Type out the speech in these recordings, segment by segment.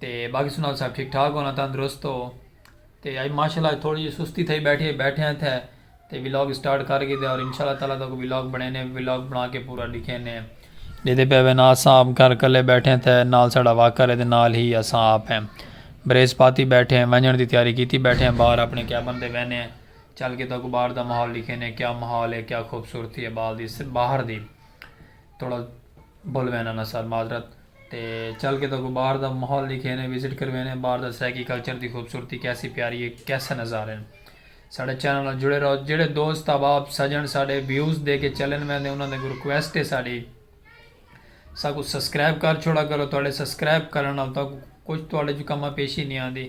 تے باقی سناؤ سب ٹھیک ٹھاک ہو نا تندرست ہو تے اج ماشاءاللہ اج تھوڑی جی سستی تھئی بیٹھی اج بیٹھے ہیں تھے تے ولاگ سٹارٹ کر گھیدے اور انشاءاللہ تعالی تاکو ولاگ بنے نے ولاگ بنا کے پورا دکھے نے جیدے پہ وے نا اساں آپ گھر کلے بیٹھے تھے نال ساڑا واکر ہے تے نال ہی اساں آپ ہیں بریس پاتی بیٹھے ہیں ونجن دی تیاری کیتی بیٹھے ہیں باہر اپنے کیبن دے وینے ہیں چل کے تاکو باہر دا ماحول دکھے نے کیا ماحول ہے کیا خوبصورتی ہے باہر دی تھوڑا بھول وینا نا سر معذرت تے چل کے تہاکوں باہر دا ماحول ڈکھینے، وزٹ کروینے، باہر دا سرائیکی کلچر دی خوبصورتی کیسی پیاری ہے، کیسے نظارے ہن۔ ساڈے چینل نال جڑے رہو۔ جیڑھے دوست، احباب، سجن ساڈے ویوز دے کے چلن ویندے انہاں دے اگوں ریکویسٹ ہے ساڈی ساکوں سبسکرائب کر چھوڑا کرو، تہاڈے سبسکرائب کرن نال تہاکوں کچھ تہاڈے چوں کماں پیشی نی آندی۔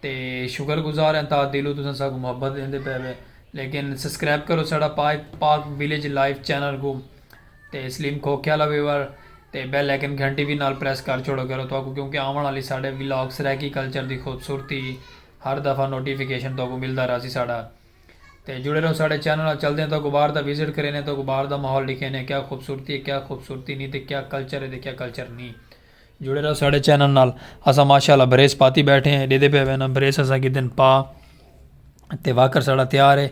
تے شکر گزار ہیں تا دلو تساں ساکو محبت دیندے پے وے لیکن سبسکرائب کرو ساڑا Pak Pak village life channel کو تے سلیم کھوکھیا لا ویور تے بیل لیکن گھنٹی بھی نال پریس کر چھوڑو کرو تو کو کیونکہ آون والی ساڑے ویلاگ سرائیکی کلچر دی خوبصورتی ہر دفعہ نوٹیفیکیشن تو کو ملدا راسی ساڑا تے جڑے رہو ساڑے چینل نال چل دیں تو کو باہر دا وزٹ کرینے تو کو باہر دا ماحول دکھینے کیا خوبصورتی ہے کیا خوبصورتی نہیں تے کیا کلچر ہے تے کیا کلچر نہیں جڑے رہو ساڈے چینل نال اساں ماشاءاللہ بریس پاتی بیٹھے ہیں ڈیدے پے وینا بریس اساں کی دن پا تے واکر ساڈا تیار ہے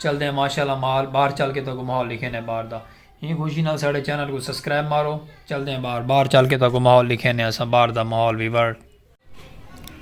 چل دے ہیں ماشاءاللہ مال باہر چل کے تو کو ماحول لکھے نے باہر دا ہی خوشی نال ساڈے چینل کو سبسکرائب مارو چل دے ہیں باہر باہر چل کے تو کو ماحول لکھے نے اساں باہر دا ماحول ویور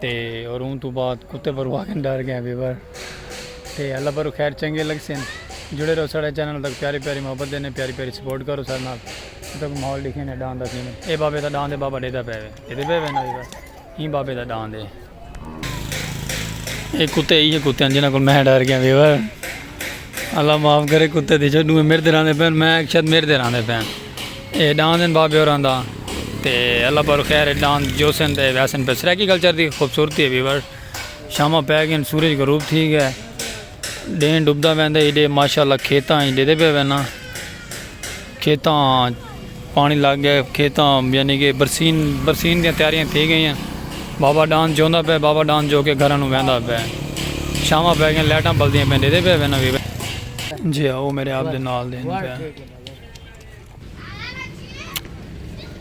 تے اور اوں توں بعد کتے پرو آکھن ڈر گئے بے بر تے اللہ پرو خیر چنگے لگ سن جڑے رہو ساڑے چینل تک پیاری پیاری محبت دینے پیاری پیاری سپورٹ کرو ساڑے نال تک ماحول دکھے نے ڈان دا کینے اے بابے دا ڈان دے بابا ڈیدا پے وے ڈیدے پے وے نا بے بر ایں بابے دا ڈان دے اے کتے ایہ کتے ہیں جنہاں کو میں ڈر گئے بے بر اللہ معاف کرے کتے دی چھڈو میر دے راندے پین میں شاید میر دے راندے پین اے ڈان دین بابے اوراں دا تے اللہ پر خیر ڈان جو سن تے ویسن پر سرائیکی کلچر دی خوبصورتی ہے ویور شامہ پہ گئے سورج غروب تھی گئے ڈین ڈبدا ویندے ایڈے ماشاءاللہ کھیتاں ایڈے دے پہ وینا کھیتاں پانڑی لگ گئے کھیتاں یعنی کہ برسین برسین دیاں تیاریاں تھی گئیاں بابا ڈان جوندا پئے بابا ڈان جو کے گھراں نو ویندا پئے چھاواں پئے گئیاں لائٹاں بلدیاں پئیاں ڈیدھے پئے وینا وی جی ہا او میرے آپ دے نال دے ہن پئے۔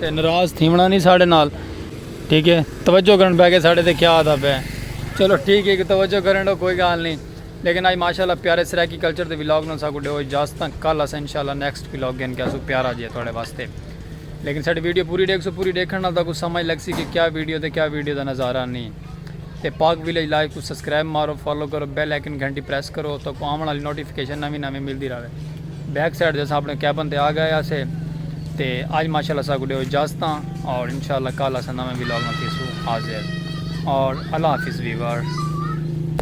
تے نراض تھیونڑاں نی ساڈے نال ٹھیک ہے توجہ کرن پے کے ساڈے تے کیا آدا پے چلو ٹھیک ہے توجہ کرن ڈو کوئی گال نی لیکن آج ماشاءاللہ پیارے سرائیکی کلچر دے ولاگ نال ساکو ڈیو اجازت کل اساں انشاءاللہ نیکسٹ ولاگ گھن کے آسو پیارا جیہا تواڈے واسطے لیکن ساڈی ویڈیو پوری ڈیکھسو پوری ڈیکھن نال تاکو سمجھ لگسی کے کیا ویڈیو تے کیا ویڈیو دا نظارہ نی۔ تے پاک ویلیج لائیو کوں سبسکرائب مارو فالو کرو بیل آئیکن گھنٹی پریس کرو تاکوں آون آلی نوٹیفکیشن نویں نویں ملدی راوے بیک سائیڈ تے اساں اپنے کیبن تے آ گئے آسے تے اج ماشاءاللہ اساں کو ڈیو اجازتاں اور انشاءاللہ کل اساں نویں ویلاگ نال تھیسوں حاضر اور اللہ حافظ ویور